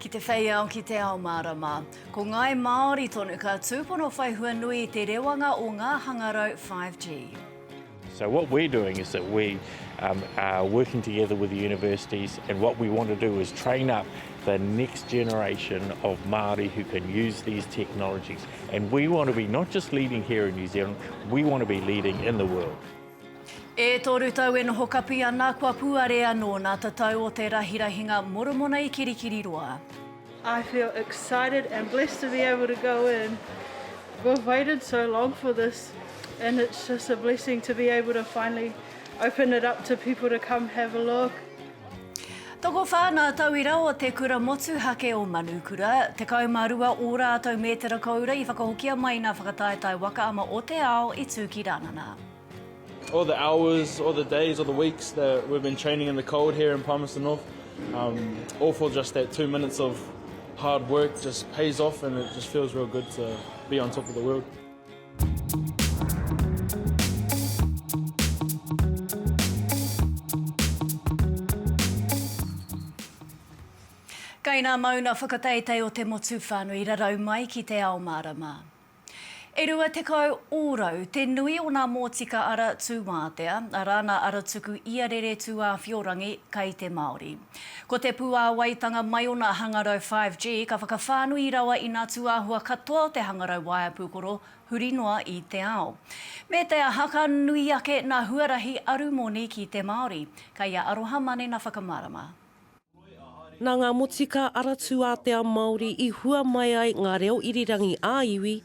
Ki te whei ao, ki te ao mārama. Ko Ngāi Māori tonu ka tūpono whai hua nui i te rewanga o ngā hangarau 5G. So what we're doing is that we um, are working together with the universities and what we want to do is train up the next generation of Māori who can use these technologies and we want to be not just leading here in New Zealand, we want to be leading in the world. E toru tau e noho kapi ana kua puare anō nā ta tau o te rahirahinga Moromona i Kirikiriroa. I feel excited and blessed to be able to go in. We've waited so long for this, and it's just a blessing to be able to finally open it up to people to come have a look. Tokowhā ngā tauira o Te Kura Motuhake o Manukura, 12 ō rātou mētara koura i whakahokia mai i ngā whakataetae waka ama o te ao i tū ki Rānana. All the hours, all the days, all the weeks that we've been training in the cold here in Palmerston North, um, all for just that two minutes of hard work just pays off and it just feels real good to be on top of the world. Kei nā Mauna whakateitei o te motu whānui rarau mai ki te ao mārama. E rua tekau ōrau te nui o nā mōtika ara tūwātea, arā nā aratuku iarere tūāwhiorangi kei te Māori. Ko te puāwaitanga mai ona hangarau 5G ka whakawhānui rawa i nā tūāhua katoa o te hangarau waea pūkoro huri noa i te ao. Me te aha, ka nui ake nā huarahi arumoni ki te Māori. Kei a Aroha Mane nā whakamārama. Nā ngā motika aratūātea Māori i hua mai ai ngā reo irirangi ā-iwi,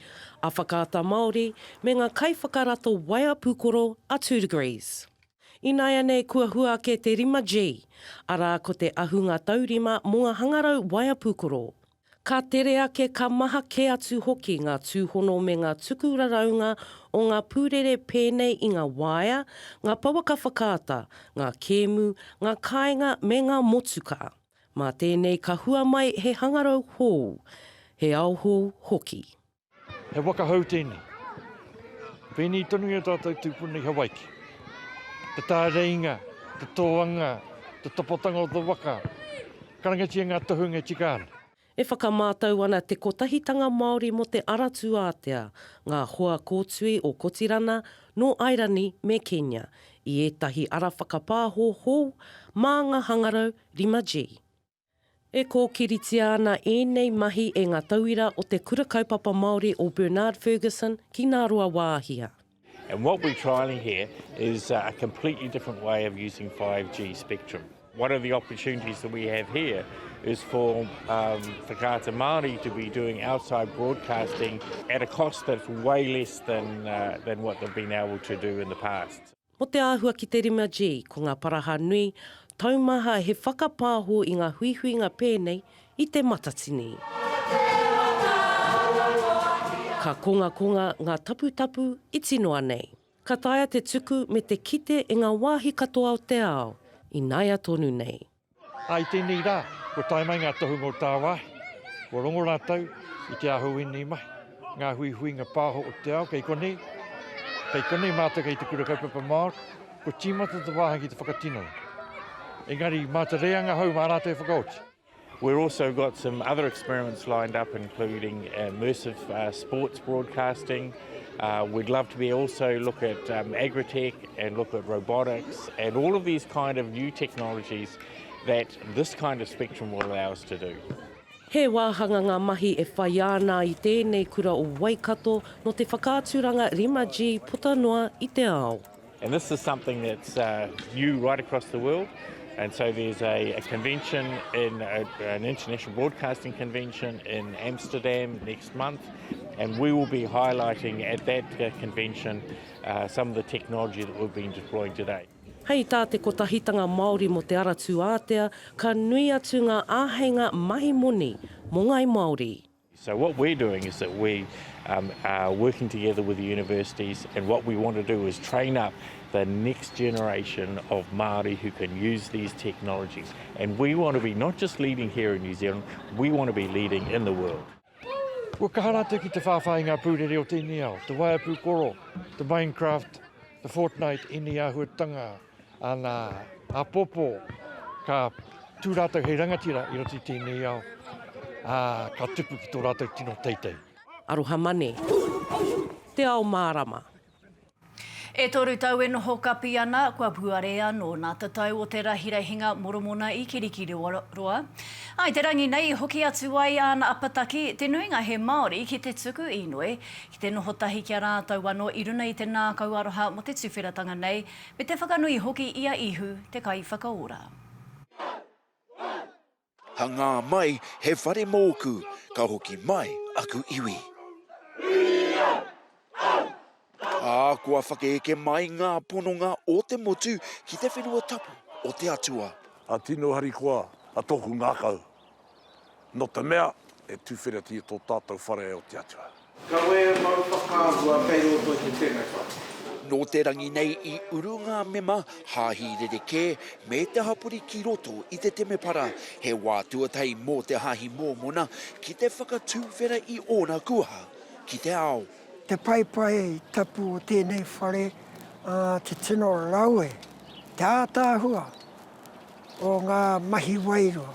a Whakaata Māori, me ngā kaiwhakarato waea pūkoro a Two Degrees. Ināianei kua hua ake te 5G, arā ko te ahunga taurima mō ngā hangarau waea pūkoro. Ka tere ake ka maha kē atu hoki ngā tūhono me ngā tuku raraunga o ngā pūrere pēnei i ngā waea, ngā pouaka whakaata, ngā kēmu, ngā kāinga me ngā motuka. Mā tēnei ka hua mai he hangarau hou, he ao hou hoki. He whakahau tēnei. Pēnei tonu i a tātou tūpuna i Hawaiki. Te tāreinga, te tōanga, te tapatanga o te waka, karangatia ngā tohunga e tika ana. E whakamātau ana Te Kotahitanga Māori mō Te Ara Tūātea ngā hoa kōtui o Kotirana, Nō Airani me Kenya, i ētahi ara whakapāho hou mā ngā hangarau 5G. E kōkiritia ana ēnei mahi e ngā tauira o Te Kura Kaupapa Māori o Bernard Fergusson ki Ngāruawāhia. And what we're trialling here is a completely different way of using 5G spectrum. One of the opportunities that we have here is for Whakaata Māori to be doing outside broadcasting at a cost that's way less than what they've been able to do in the past. Mo te āhua ki te 5G, ko ngā paraha nui, taumaha he whakapāho i ngā huihuinga pēnei i te matatini. Ka kongakonga ngā taputapu iti noa nei. Ka taea te tuku me te kite e ngā wāhi katoa o te ao, ināia tonu nei. I tēnei rā, kua tae mai ngā tohunga o tāwāhi, kua rongo rātou i te aho wēnei mahi, ngā huihuinga pāho o te ao, kei konei, kei konei mātou kei te Kura Kaupapa Māori, kua tīmata te wāhi ki te whakatino. Engari, mā te reanga hou mā rātou e whakaoti. We're also got some other experiments lined up including immersive sports broadcasting, Uh, we'd love to be also look at um, agri-tech and look at robotics and all of these kind of new technologies that this kind of spectrum will allow us to do. He wāhanga ngā mahi e whai ana i tēnei kura o Waikato no te whakaaturanga 5G puta noa i te ao. And this is something that's uh, new right across the world. And so there's a, a convention, in a, an international broadcasting convention in Amsterdam next month. And we will be highlighting at that uh, convention uh, some of the technology that we've been deploying today. Hei tā te Kotahitanga Māori mō Te Ara Tūātea, ka nui atu ngā āheinga mahi moni mō ngāi Māori. So what we're doing is that we are working together with the universities and what we want to do is train up the next generation of Māori who can use these technologies and we want to be not just leading here in New Zealand, we want to be leading in the world. Kua kaha rātou ki te whāwhā i ngā pūrere o tēnei ao, te waea pūkoro, te Minecraft, te Fortnite, ēnei āhuatanga. Ana apopo ka tu ratou hei rangatira i roto i tenei ao, a ka tupu ki to ratou tino teitei. Aroha mane. Te ao marama. E toru tau e noho kapi ana, kua puare ano na tatau o te Rahirahinga Moromona i Kirikiriroa. I te rangi nei i hoki atu ai ana apataki, te nuinga he Maori, ki te tuku inoi, ki te noho tahi ki a ratou ano i runa i te nakau aroha mo te tuwheratanga nei, Me te whakanui hoki i a Ihu te Kaiwhakaora. Hangā mai he whare mōku, ka hoki mai aku iwi. Ā, kua whakaeke mai ngā pononga o te motu ki te whenua tapu o te Atua. A tino harikoa a tōku ngākau. nō te mea e tūwheratia tō tātou whare o te Atua. Kawe e mau whakaahua kei roto i te temepara. Nō te rangi nei i uru ngā mema, hāhi rerekē, me te hapori ki roto i te temepara, he wā tuatahi mō te hāhi Mōmona ki te whakatūwhera i ōna kuaha ki te ao. Te paepae tapu o tēnei whare, ā, te tino rawe, te ātaahua, O ngā mahi wairua,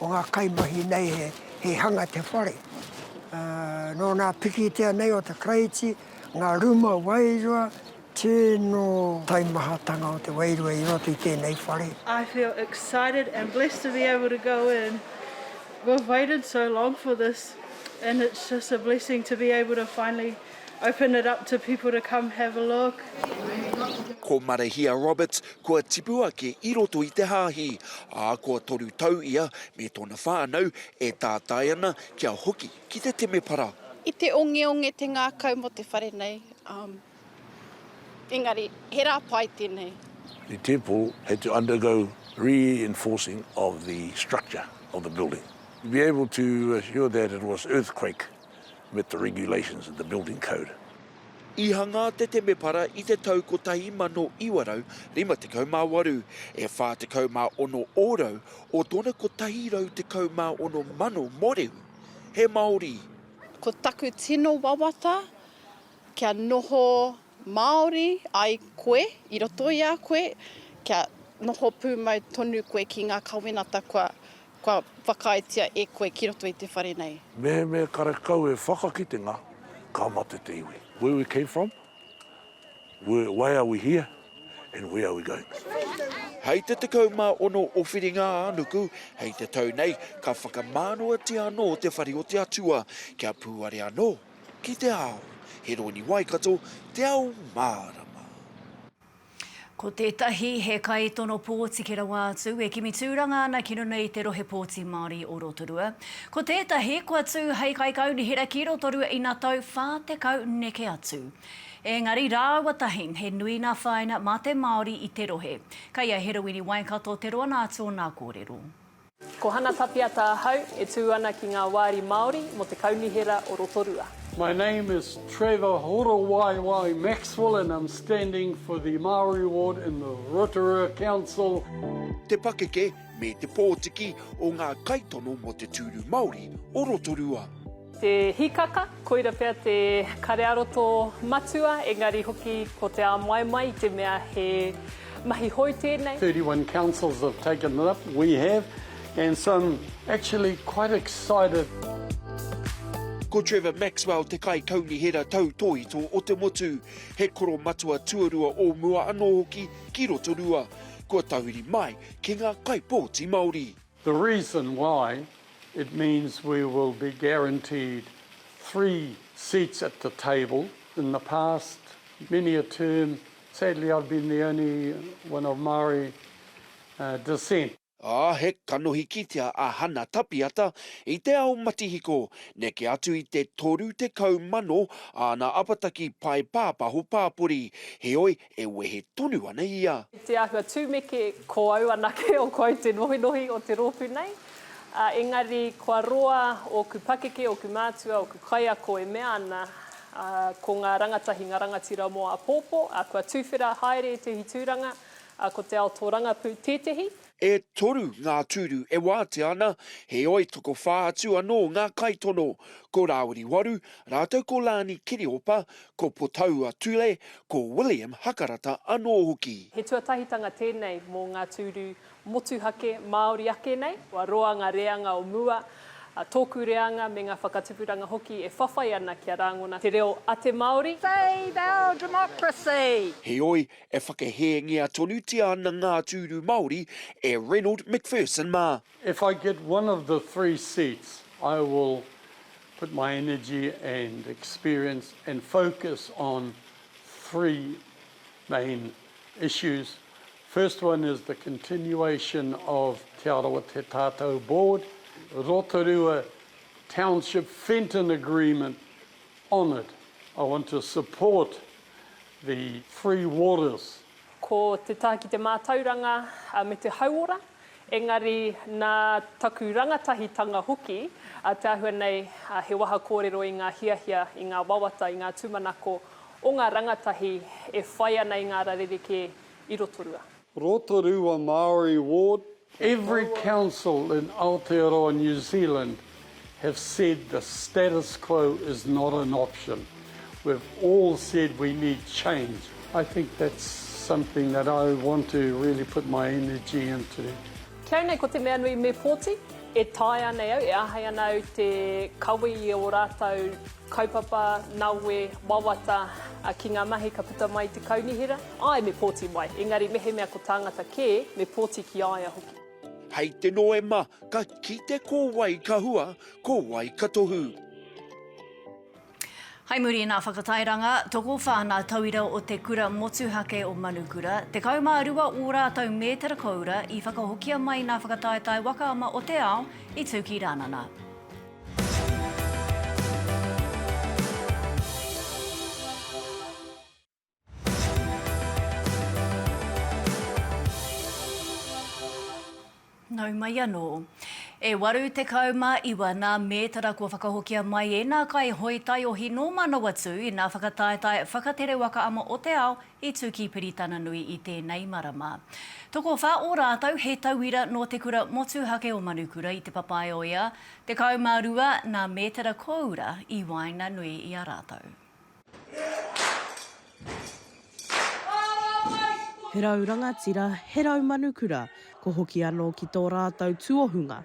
o ngā kaimahi nei he hanga te whare. Nō nā pikitia nei o te Karaiti, ngā ruma wairua, tino taimahatanga o te wairua i roto i tēnei whare. I feel excited and blessed to be able to go in. We've waited so long for this and it's just a blessing to be able to finally open it up to people to come have a look. Ko Marehia Roberts, Kua tipu ake i roto i te hāhi, ā, kua toru tau ia me tōna whānau e tātai ana kia hoki ki te temepara. I te ongeonge te ngākau mō te whare nei, ā, engari he rā pai tēnei. The temple had to undergo reinforcing of the structure of the building to be able to assure that it was earthquake met the regulations of the building code. I hangā te temepara i te tau 1958, e 46 ōrau o tōna 116 mano mōrehu he Māori. Ko taku tino wawata kia noho Māori ai koe i roto i a koe, kia noho pūmau tonu koe ki ngā kawenata kua Kua whakaaetia e koe ki roto i te whare nei. Mehemea karekau e whakakitenga, ka mate te iwi. Where we came from, where, why are we here and where are we going. Hei te 16 o Whiringa-ā-nuku, hei te tau nei, ka whakamānoatia anō te whare o te Atua, kia pūare anō ki te ao. He rōni Waikato, te ao mārama. Ko tētahi he kaitono pōti ki rawa atu e kimi tūranga ana ki runga i te Rohe Pōti Māori o Rotorua. Ko tētahi kua tū hei kaikaunihera ki Rotorua ina tau 40 neke atu. Ēngari rāua tahi he nui ngā whāinga mā te Māori i te rohe. Kei a Herowini Waikato te roanga atu o nā kōrero. Ko Hana Tapiata ahau, e tū ana ki ngā wāri Māori mō te Kaunihera o Rotorua. My name is Trevor Horowaiwai Maxwell and I'm standing for the Māori ward in the Rotorua Council. Te pakeke me te pōtiki o ngā kaitono mō te tūru Māori o Rotorua. Te hikaka, koira pea te karearoto matua, engari hoki ko te āmoaimoa i te mea he mahi hou tēnei. 31 councils have taken it up, we have, and so I'm actually quite excited. Ko Trevor Maxwell te kaikaunihera tautōhito o te motu, he koromatua tuarua o mua anō hoki ki Rotorua, kua tahuri mai ki ngā kaipōti Māori. The reason why it means we will be guaranteed three seats at the table, in the past many a term sadly I've been the only one of Māori descent. Ā, he kanohi kitea a Hana Tapiata i te ao matihiko, neke atu i te toru tekau mano āna apataki pae pāpaho pāpori, heoi e wehe tonu ana i a. Te āhua tumeke, ko au anake o kouou te nohinohi o te rōpū nei, ā, engari kua roa ōku pakeke, ōku mātua, ōku kaiako e mea ana, ā, ko ngā rangatahi, ngā rangatira mō āpōpō, ā, kua tuwhera haere ētehi tūranga, ā, ko te ao tōrangapū tētehi. E toru ngā tūru e wātea ana, heoi tokowhā atu anō ngā kaitono, ko Rāwiri Waru rātou ko Lani Kiriopa, ko Potaua Tule, ko William Hakarata anō hoki. He tuatahitanga tēnei mō ngā tūru motuhake Māori ake nei, kua roa ngā reanga o mua, tōku reanga me ngā whakatupuranga hoki e whawhai ana kia rāngona te reo a te Māori. Save our democracy! Heoi, E whakahēngia tonutia ana ngā tūru Māori e Reynold McPherson mā. If I get one of the three seats, I will put my energy and experience and focus on three main issues. First one is the continuation of Te Arawa Te Tatau Board, Rotorua Township Fenton Agreement honoured. I want to support the free waters. Ko te taha ki te mātauranga me te hauora, engari nā taku rangatahitanga hoki te āhua nei he waha kōrero i ngā hiahia, i ngā wawata, i ngā tūmanako o ngā rangatahi e whai ana i ngā ara rerekē i Rotorua. Rotorua Māori ward for Every council in Aotearoa New Zealand have said the status quo is not an option. We've all said we need change. I think that's something that I want to really put my energy into. Kei au nei ko te mea nui me pōti. E taea nei au, e āhei ana au te kawe i ō rātou. Kaupapa, nawe, wawata, a ki nga mahi ka puta mai te kaunihera, ae me poti mai, engari mehemea ko tangata ke, me poti ki a ia hoki. Hei te Noema ka kite ko wai ka hua, ko wai ka tohu. Hei muri i nā whakatairanga, tokowha nā tauira o te Kura Motuhake o Manukura, 12 ō rātou mētara koura i whakahokia mai nā whakataetae waka ama o te ao i Tūkirānana. Nau mai anō. E waru tekau mā iwa nā mētara kua whakahokia mai ēnā kai hoi taiohi nō Manawatū ina whakataetae whakatere waka ama o te ao I tu ki Piritananui i tenei marama. Tokowha o ratou he tauira no te kura motuhake o Manukura i te papae o ia, 12 na metera koura i waenganui i a ratou. He rau rangatira, he rau manukura, ko hoki ano ki to ratou tuohunga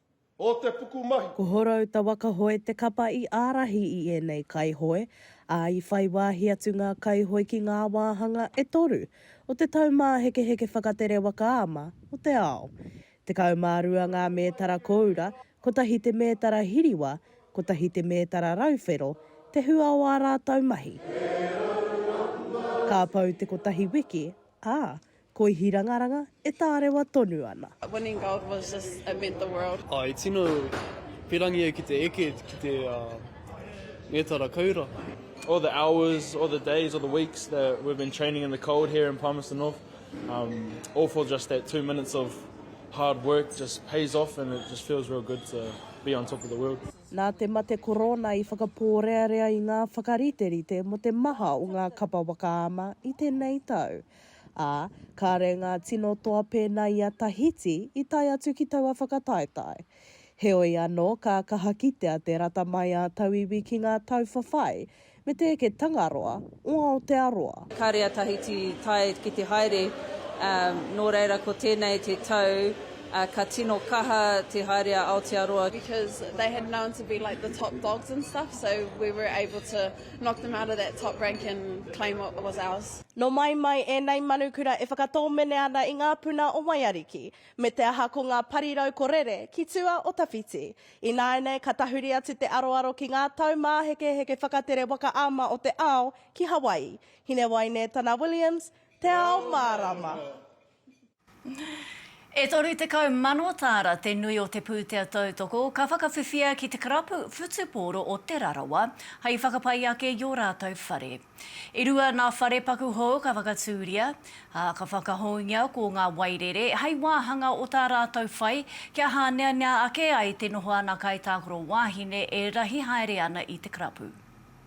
o te pukumahi. Ko Horouta-waka-hoe te kapa i ārahi i ēnei kaihoe, ā, i whai wāhi atu ngā kaihoe ki ngā wāhanga e toru o te taumāhekeheke whakatere waka ama o te ao. Tekau mā rua ngā mētara kōura, kotahi te mētara hiriwa, kotahi te mētara rauwhero te hua o ā rātou mahi. Ka pau te kotahi wiki, ā, koi hirangaranga e tārewa tonu ana. Winning gold was just it meant the world. I tino pirangi au ki te eke ki te mētara koura. All the hours, all the days, all the weeks that we've been training in the cold here in Palmerston North, all for just that two minutes of hard work just pays off and it just feels real good to be on top of the world. Nā te mate korona i whakapōrearea i ngā whakariterite mō te maha o ngā kapa waka ama i tēnei tau. ā, kāre ngā tino toa pēnā i a Tahiti i tae atu ki taua whakataetae. Heoi anō, ka kaha kitea te rata mai a tauiwi ki ngā tau whawhai me te eke Tangaroa o Aotearoa. Kāre a Tahiti i tae ki te haere, ā, nō reira ko tēnei te tau ka tino kaha te haere a Aotearoa. because they had known to be like the top dogs and stuff, so we were able to knock them out of that top rank and claim what was ours. Nō mai mai ēnei manukura e whakatōmene ana i ngā puna o Waiariki, me te aha ko ngā parirau ko rere ki tua o tawhiti. Ināianei ka tahuri atu te aroaro ki ngā tau māhekeheke whakatere waka ama o te ao ki Hawaii. Hinewaine Tana Williams, Te Ao Mārama. E 30,000 tāra te nui o te pūtea tautoko ka whakawhiwhia ki te karapu whutupōro o Te Rarawa hei whakapai ake i ō rātou whare. E rua ngā whare paku hou ka whakatūria, ā, ka whakahoungia ko ngā wairere hei wāhanga o tā rātou whai kia hāneanea ake ai te noho ana kaitākaro wāhine e rahi haere ana i te karapu.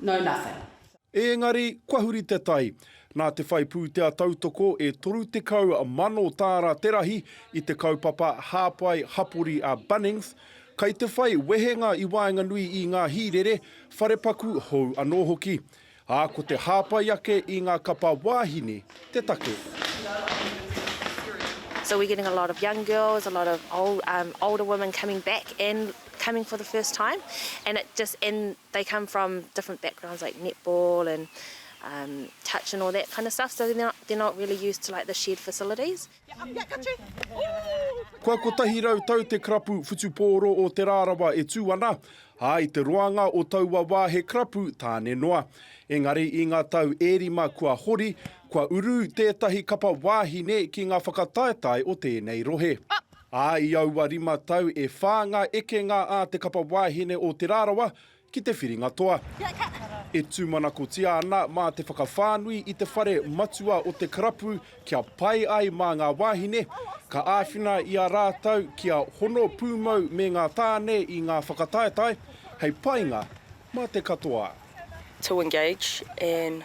know nothing. Ēngari, kua huri te tai. Nā te whai pūtea tautoko e 30 mano tāra te rahi i te kaupapa hāpai hapori a Bunnings, kai te whai wehenga i waenganui i ngā hīrere, wharepaku hou anō hoki. Ā, ko te hāpai ake i ngā kapa wāhine te take. So we're getting a lot of young girls, a lot of older women coming back and coming for the first time and it just, and They come from different backgrounds like netball and um touch and all that kind of stuff so they're not they're not really used to like the shared facilities. Kua kotahi rau tau te karapu whutupōro o Te Rarawa e tū ana, ā, i te roanga o taua wā he karapu tāne noa. Engari i ngā tau e rima kua hori, kua uru tētahi kapa wāhine ki ngā whakataetae o tēnei rohe. Ā, i aua rima tau e whā ngā ekenga a Te Kapa Wāhine o Te Rarawa ki te whiringa toa. E tūmanakotia ana mā te whakawhānui i te whare matua o te karapu kia pai ai mā ngā wāhine, ka āwhina i a rātou kia hono pūmau me ngā tāne i ngā whakataetae hei painga mā te katoa. to engage in.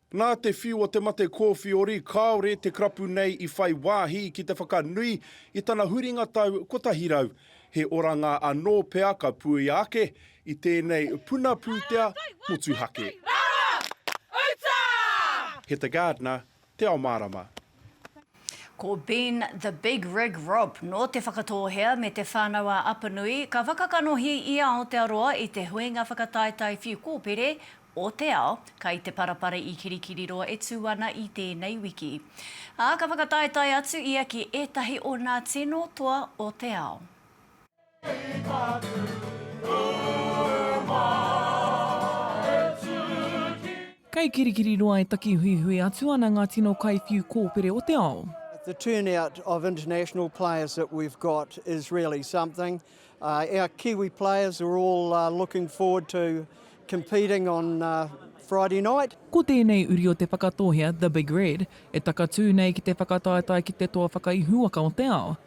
Nā te whiu o te mate kōwhiori kāore te karapu nei i whai wāhi ki te whakanui i tana huringa tau 100. He oranga anō pea ka puea ake i tēnei puna pūtea motuhake. He te gardener te ao mārama. Ko Bean the Big Rig Rob nō Te Whakatōhea me Te Whānau-ā-Apanui ka whakakanohi i Aotearoa i te huinga whakataetae whiu kōpere o te ao kai te parapara i Kirikiriroa e tū ana i tēnei wiki. Ā, ka whakataetae atu ia ki ētahi o nā tino toa o te ao. Kei Kirikiriroa e takihuihui atu ana ngā tino kaiwhiu kōpere o te ao. The turnout of international players that we've got is really something. Uh, our Kiwi players are all uh, looking forward to competing on uh, Friday night. Ko tēnei uri o Te Whakatōhea, The Big Red, e takatū nei ki te whakataetae ki te toa whakaihuwaka o te ao,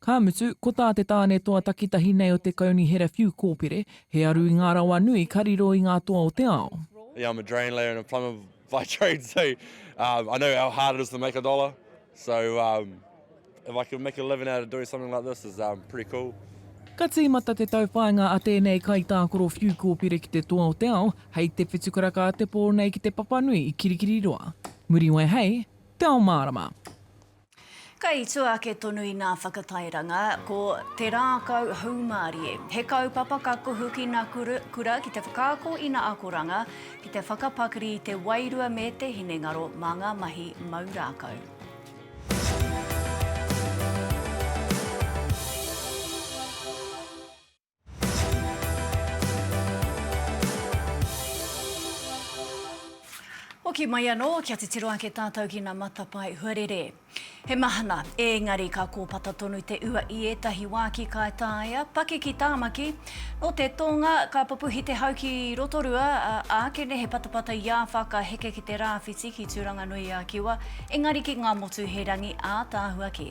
Ka mutu, ko tā te tāne toa takitahi nei o te Kaunihera Whiu Kōpere, he aru i ngā rawa nui ka riro i ngā toa o te ao. Yeah, I'm a drain layer and a plumber by trade, so I know how hard it is to make a dollar, so if I can make a living out of doing something like this is pretty cool. Ka tīmata te tauwhāinga a tēnei kaitākoro whiu kōpere ki te toa o te ao, hei te whitu karaka a te pō nei ki te papanui i Kirikiriroa. Muriwai hei Te Ao Mārama. Kei tua ake tonu i ngā whakatairanga, ko Te Rākau Haumarie. He kaupapa ka kuhu ki ngā kura ki te whakaako i ngā akoranga, ki te whakapakari i te wairua me te hinengaro mā ngā mahi mau rākau. Hoki mai anō, kia titiro ake tātou ki ngā matapae huarere. He mahana, ēngari ka kōpata tonu te ua i ētahi wā ki Kaitaia, paki ki Tāmaki. Nō te tōnga, ka pupuhi te hau ki Rotorua, ā, ākene he patapata i āwha ka heke ki te rāwhiti ki Tūranganui-a-Kiwa, ēngari ki Ngāmotu he rangi ātaahua kē.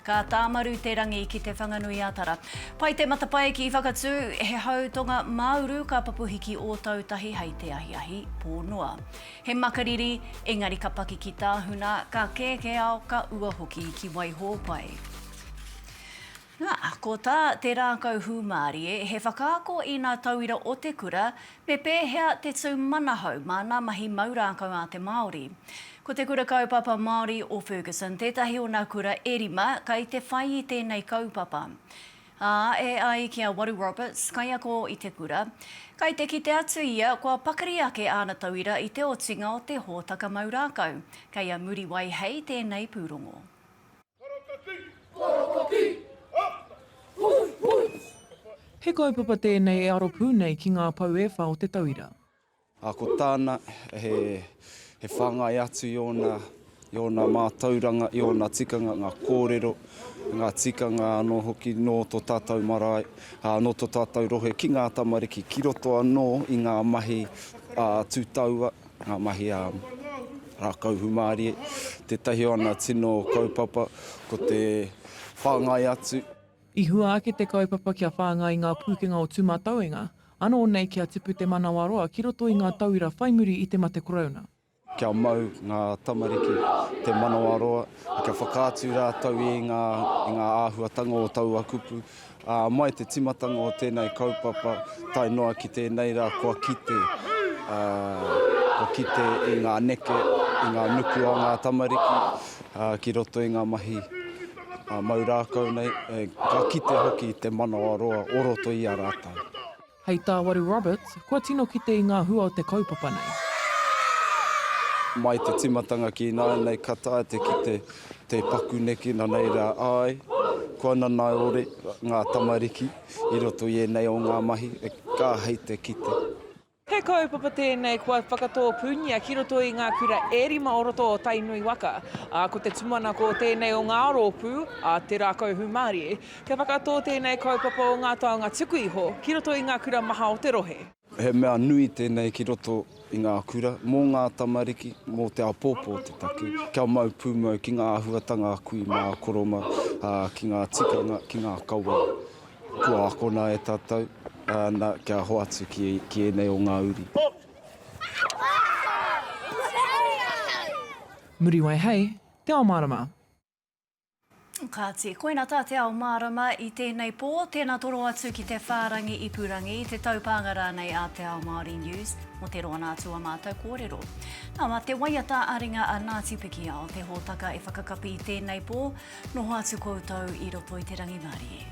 Ka tāmaru te rangi ki Te Whanganui-a-Tara. Pai te matapae ki Whakatū, he hau tonga māuru ka pupuhi ki Ōtautahi hei te ahiahi pō noa. He makariri, engari ka paki ki Tāhuna, ka kēkē ao, ka ua hoki ki Waihōpai. Nā, ko tā te rākau hūmārie, he whakaako ina tauira o te kura, Me pēhea te tū manahau mā ngā mahi mau rākau a te Māori? Ko Te Kura Kaupapa Māori o Ferguson tētahi o ngā kura e rima kei te whai i tēnei kaupapa. Ā, e ai ki a Waru Roberts, kaiako i te kura, kei te kite atu ia kua pakari ake āna tauira i te otinga o te hōtaka mau rākau, kei a Muriwai Hei tēnei pūrongo. He kaupapa tēnei e aro pū nei ki ngā pou e wha o te tauira. Ā, ko tāna, he whāngai atu i ōna, i ōna mātauranga, i ōna tikanga, ngā kōrero, ngā tikanga anō hoki nō tō tātou marae, ā, nō tō tātou rohe ki ngā tamariki ki roto anō i ngā mahi tū taua. Ngā mahi a rākau hūmārie, tētahi o ana tino kaupapa ko te whāngai atu. I hua ake te kaupapa kia whāngai ngā pūkenga o Tūmatauenga, anō nei kia tipu te manawaroa ki roto i ngā tauira whai muri i te mate Korouna. Kia mau ngā tamariki, te manawaroa, kia whakaatu rātou i ngā āhuatanga o taua kupu, Ā, mai te timatanga o tēnei kaupapa, tae noa ki tēnei rā, kua kite, ā, kua kite i ngā neke, i ngā nuku a ngā tamariki, ā, ki roto i ngā mahi, ā, mau rākau nei, ā, ka kite hoki te manawaroa o roto i a rātou. Hei tā Waru Roberts, kua tino kite i ngā hua o te kaupapa nei. Mai te timatanga ki ināianei ka taea te kite te paku neke nanei rā, āe, kua nanaeore ngā tamariki i roto i ēnei o ngā mahi ka hei te kite. He kaupapa tēnei kua whakatōpūngia ki roto i ngā kura e rima o roto o Tainui waka, ā, ko te tumanako o tēnei o ngā rōpū a Te Rākau Hūmārie Kia whakatō tēnei kaupapa o ngā taonga tuku iho ki roto i ngā kura maha o te rohe. He mea nui tēnei ki roto i ngā kura, mō ngā tamariki, mō te āpōpō te take, kia mau pūmau ki ngā āhuatanga a kui mā, a koroma, ki ngā tikanga, ki ngā kawā. Kua akona e tātou, na, kia hoatu ki, ki ēnei o ngā uri. Muriwaihei, Te Ao Marama. Kāti, koina tā te ao mārama i tēnei pō, tēnā toro atu ki te whārangi ipurangi, te taupānga rānei a Te Ao Māori News mō te roa nā atu a mātou kōrero. Nā, mā te waiata ā-ringa a Ngāti Pikiao te hōtaka e whakakapi i tēnei pō, noho atu koutou i roto i te rangimārie.